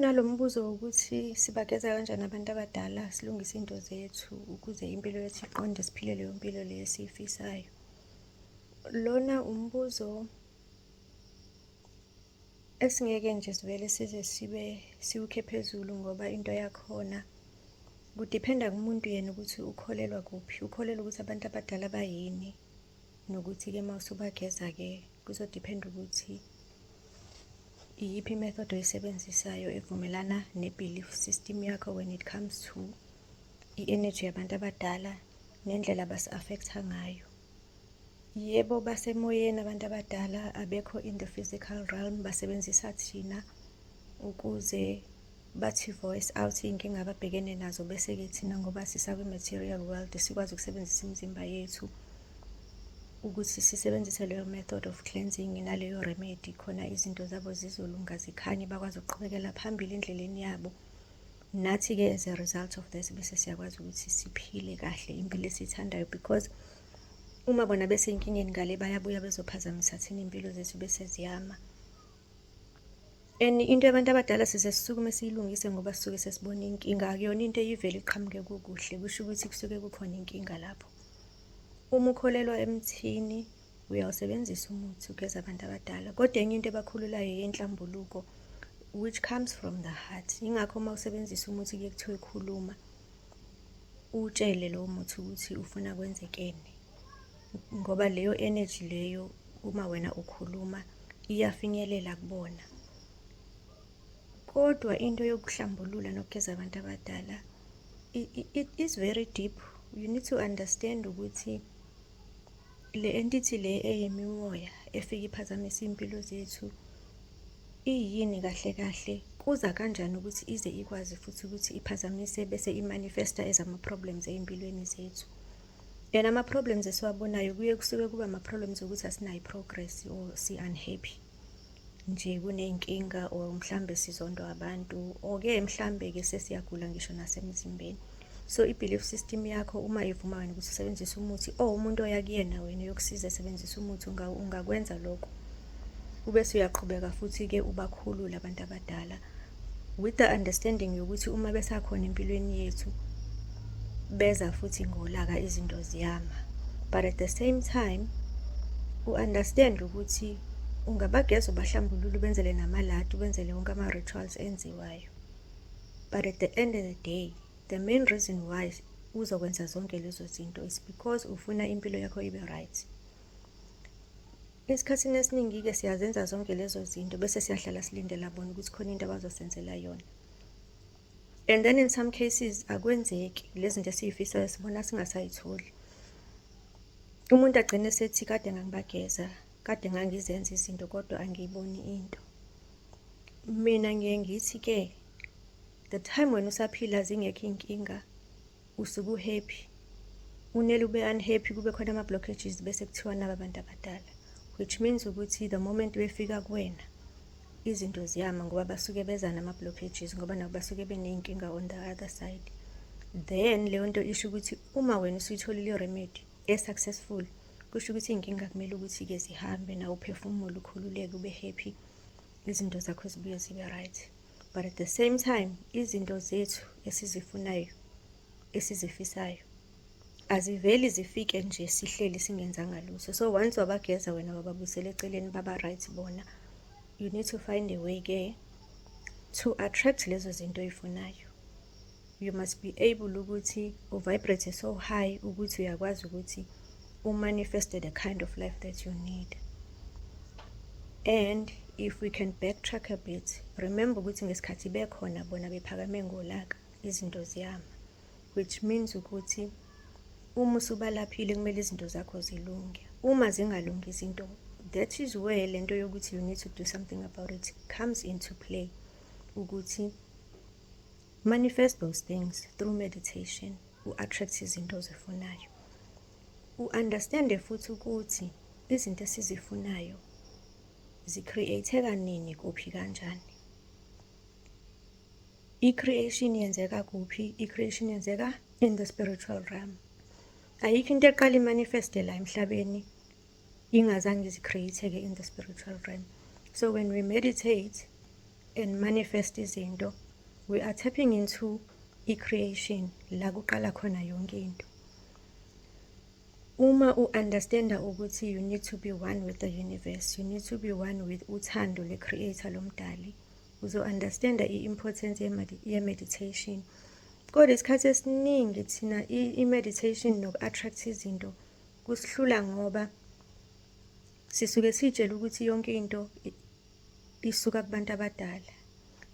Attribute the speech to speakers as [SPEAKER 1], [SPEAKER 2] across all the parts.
[SPEAKER 1] Nalo mbuzo wokuthi sibageza kanjani abantu abadala silungise into zethu ukuze impilo yethu iqonde siphile leyo mpilo leyo esiyifisayo. Lona umbuzo esingeke nje sivele size sibe siwukhe phezulu ngoba into yakhona kudiphenda kumuntu yena ukuthi ukholelwa kuphi, ukholelwa ukuthi abantu abadala bayini. nokuthi-ke uma usubageza-ke kuzodiphenda ukuthi iyiphi imethod oyisebenzisayo evumelana ne-belief system yakho when it comes to i-energy yabantu abadala nendlela basi-affectha ngayo yebo basemoyeni abantu abadala abekho in the physical realm basebenzisa thina ukuze bathi voice out iy'nkinga ababhekene nazo bese-ke thina ngoba sisakwi-material world sikwazi ukusebenzisa imizimba yethu ukuthi sisebenzise leyo method of cleansing naleyo remedy khona izinto zabo zizolunga zikhanye bakwazi ukuqhubekela phambili endleleni yabo nathi-ke as a result of this bese siyakwazi ukuthi siphile kahle impilo esiyithandayo because uma bona besenkingeni ngale bayabuya bezophazamisa thina iy'mpilo zethu bese ziyama And into yabantu abadala size sisukume siyilungise ngoba sisuke sesibona inkinga akuyona into eyivele iqhamuke kukuhle kusho ukuthi kusuke kukhona inkinga lapho uma ukholelwa emthini uyawusebenzisa umuthi ugeza abantu abadala kodwa enye into ebakhululayo yenhlambuluko which comes from the heart ingakho uma usebenzisa umuthi kuye kuthiwa ekhuluma utshele lowo muthi ukuthi ufuna kwenzekeni ngoba leyo energy leyo uma wena ukhuluma iyafinyelela kubona kodwa into yokuhlambulula nokugeza abantu abadala it, it is very deep you need to understand ukuthi le entity le eyimimoya efika iphazamisa impilo zethu iyini kahle kahle kuza kanjani ukuthi ize ikwazi futhi ukuthi iphazamise bese imanifesta ezama problems ezimpilweni zethu and ama-problems esiwabonayo kuye kusuke kuba ama-problems okuthi asinayo i-progress or si-unhappy nje kuney'nkinga or mhlambe sizondwa abantu or-ke mhlambe-ke sesiyagula ngisho nasemzimbeni so i-belief system yakho uma ivuma wena ukuthi usebenzise umuthi or umuntu oya kuyena wena yokusiza esebenzisa umuthi ungakwenza lokho ube suyaqhubeka futhi-ke ubakhulule abantu abadala with the understanding yokuthi uma besakhona empilweni yethu beza futhi ngolaka izinto ziyama but at the same time u-understand ukuthi ungabageza ubahlambulula ubenzele namalati ubenzele wonke ama-rituals enziwayo but at the end of the day the main reason why uzokwenza zonke lezo zinto is because ufuna impilo yakho ibe right Esikhathini esiningi-ke siyazenza zonke lezo zinto bese siyahlala silindela bona ukuthi khona into abazosenzela yona. And then in some cases akwenzeki lezi zinto esiyifisayo sibona singasayitholi. Umuntu agcine sethi kade ngangibageza, kade ngangizenza izinto kodwa angiyiboni into. Mina ngiye ngithi-ke the time wena usaphila zingekho iy'nkinga usuke uhappy unele ube unhappy kube khona ama blockages bese kuthiwa naba abantu abadala which means ukuthi the moment befika kuwena izinto ziyama ngoba basuke beza nama blockages ngoba nabo basuke beneyinkinga on the other side then leyo nto isho ukuthi uma wena usuyitholile remedy e successful kusho ukuthi inkinga kumele ukuthi ke zihambe na uphefumulo ukhululeke ube happy izinto zakho zibuye zibe right but at the same time izinto zethu esizifunayo esizifisayo aziveli zifike nje sihleli singenzanga lutho so once wabageza wena wababusela eceleni baba right bona you need to find a way ke to attract lezo zinto oyifunayo you must be able ukuthi u vibrate so high ukuthi uyakwazi ukuthi u manifest the kind of life that you need and if we can backtrack a bit remember ukuthi ngesikhathi bekhona bona bephakame ngolaka izinto ziyama which means ukuthi uma usubalaphile kumele izinto zakho zilunge uma zingalungi izinto that is where le nto yokuthi you need to do something about it comes into play ukuthi Manifest those things through meditation. U-attract izinto ozifunayo. U-understande futhi ukuthi izinto esizifunayo zicreateka nini kuphi kanjani i-creation yenzeka kuphi i-creation yenzeka in the spiritual realm ayikho into eqala imanifeste la emhlabeni ingazange zicreateke in the spiritual realm so when we meditate and manifest izinto we are tapping into i-creation la kuqala khona yonke into uma u-understanda ukuthi you need to be one with the universe you need to be one with uthando le-creator lomdali uzo-understanda i-importance ye-meditation kodwa isikhathi esiningi thina i-meditation noku-attract izinto kusihlula ngoba Sisuke sitshela ukuthi yonke into isuka kubantu abadala.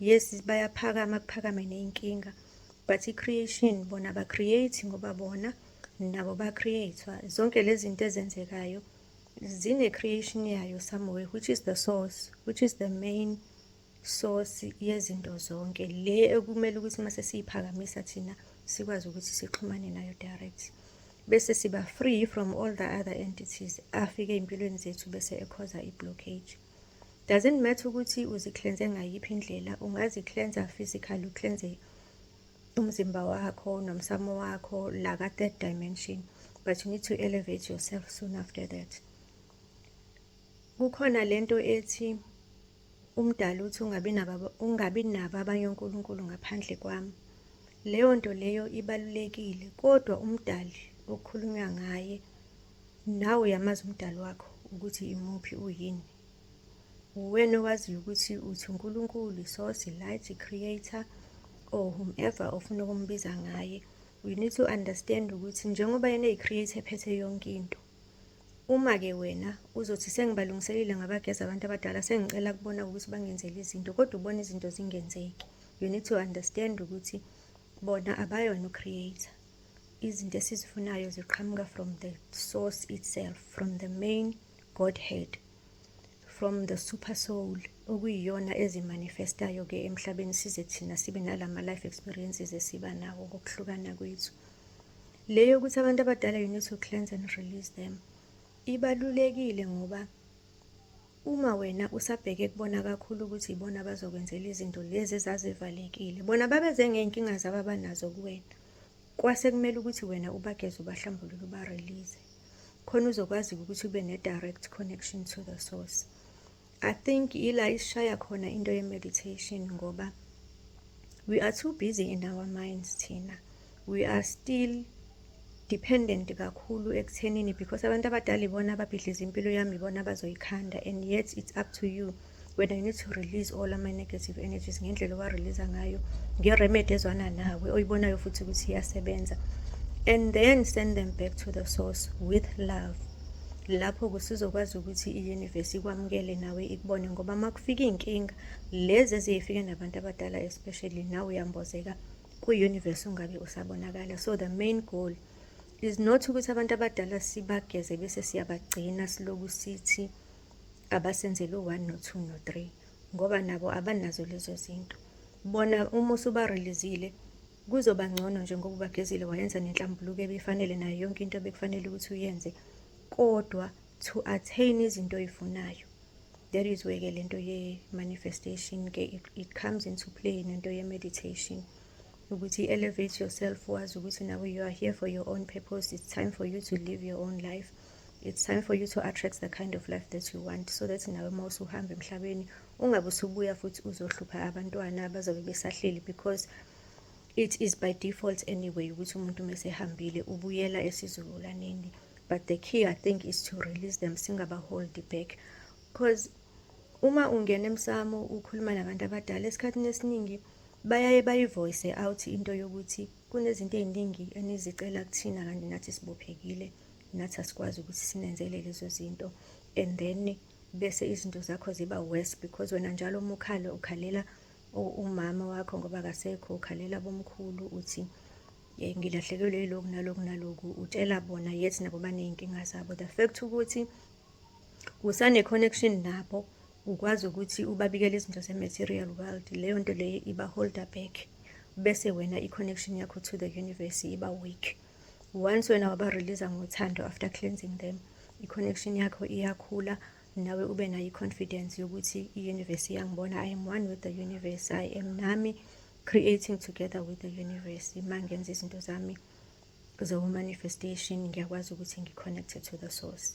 [SPEAKER 1] Yes bayaphakama kuphakame neyinkinga but i-creation bona ba-create ngoba bona nabo ba-create-wa. Zonke lezi zinto ezenzekayo zine-creation yayo somewhere which is the source, which is the main source yezinto zonke le ekumele ukuthi uma sesiyiphakamisa thina sikwazi ukuthi sixhumane nayo direct bese siba free from all the other entities afike ey'mpilweni zethu bese ekhoza i-blockage doesn't matter ukuthi uziklenze ngayiphi indlela ungaziklenza physical uklenze umzimba wakho nomsamo wakho la ka-third dimension but you need to elevate yourself soon after that kukhona lento ethi Umdali uthi ungabi nabo ungabi nabo abanye onkulunkulu ngaphandle kwami. Leyo nto leyo ibalulekile kodwa umdali okukhulunywa ngaye nawe uyamazi umdali wakho ukuthi imuphi uyini. Uwena owaziyo ukuthi uthi uNkulunkulu, iSource, iLight, iCreator or whomever ofuna ukumbiza ngaye. We need to understand ukuthi njengoba yena eyi-creator ephethe yonke into. Uma ke wena uzothi sengibalungiselile ngabageza abantu abadala sengicela kubona ukuthi bangenzele izinto kodwa ubona izinto zingenzeki. You need to understand ukuthi bona abayona ucreator. Izinto esizifunayo ziqhamuka from the source itself, from the main Godhead, from the super soul okuyiyona ezimanifestayo ke emhlabeni size thina sibe nalama life experiences esiba nawo ngokuhlukana kwethu leyo ukuthi abantu abadala you need to cleanse and release them ibalulekile ngoba uma wena usabheke kubona kakhulu ukuthi ibona bazokwenzela izinto lezi ezazivalekile bona babeze ngey'nkinga zabo abanazo kuwena kwase kumele ukuthi wena ubageze ubahlambulule ubarelease khona uzokwazi ukuthi ube ne-direct connection to the source i think ila isishaya khona into ye-meditation ngoba we are too busy in our minds thina we are still dependent kakhulu ekuthenini because abantu abadala ibona ababhidliza impilo yami ibona abazoyikhanda and yet it's up to you wena you need to release all ama-negative energies ngendlela owareleasa ngayo ngeremedi ezwana nawe oyibonayo futhi ukuthi iyasebenza and then send them back to the source with love lapho kusizokwazi ukuthi i-universe ikwamukele nawe ikubone ngoba uma kufika iy'nkinga lezi eziyifike nabantu abadala especially nawe uyambozeka kwi-universe ungabe usabonakala so the main goal is not ukuthi abantu abadala sibageze bese siyabagcina siloku sithi abasenzele u-one no-two no-three ngoba nabo abanazo lezo zinto bona uma usubarelizile kuzoba ngcono nje ngoba ubagezile wayenza nenhlambuluko ebifanele nayo yonke into ebekufanele ukuthi uyenze kodwa to attain izinto oyifunayo that is where ke lento ye manifestation ke it, it comes into play nento ye meditation ukuthi elevate yourself wazi ukuthi nawe you are here for your own purpose it's time for you to live your own life it's time for you to attract the kind of life that you want so that nawe uma usuhamba emhlabeni ungabe usubuya futhi uzohlupha abantwana abazobe besahleli because it is by default anyway ukuthi umuntu uma esehambile ubuyela esizukulwaneni but the key i think is to release them singabahold back because uma ungena emsamo ukhuluma nabantu abadala esikhathini esiningi bayaye bayivoice out into yokuthi kunezinto ey'ningi enizicela kuthina kanti nathi sibophekile nathi asikwazi ukuthi sinenzele lezo zinto and then bese izinto zakho ziba worse because wena njalo uma ukhala ukhalela umama wakho ngoba akasekho ukhalela bomkhulu uthi ye ngilahlekelwe yiloku naloku naloku utshela bona yethi nabo baney'nkinga zabo the fact ukuthi usane-connection nabo ukwazi ukuthi ubabikele izinto ze-material world leyo nto leyo iba-holder back bese wena i-connection yakho to the universe iba weak once wena waba release ngothando after cleansing them i-connection yakho iyakhula nawe ube nayo i-confidence yokuthi i-universe iyangibona i am one with the universe i am nami creating together with the universe uma ngenza izinto zami zomanifestation ngiyakwazi ukuthi ngi-connected to the source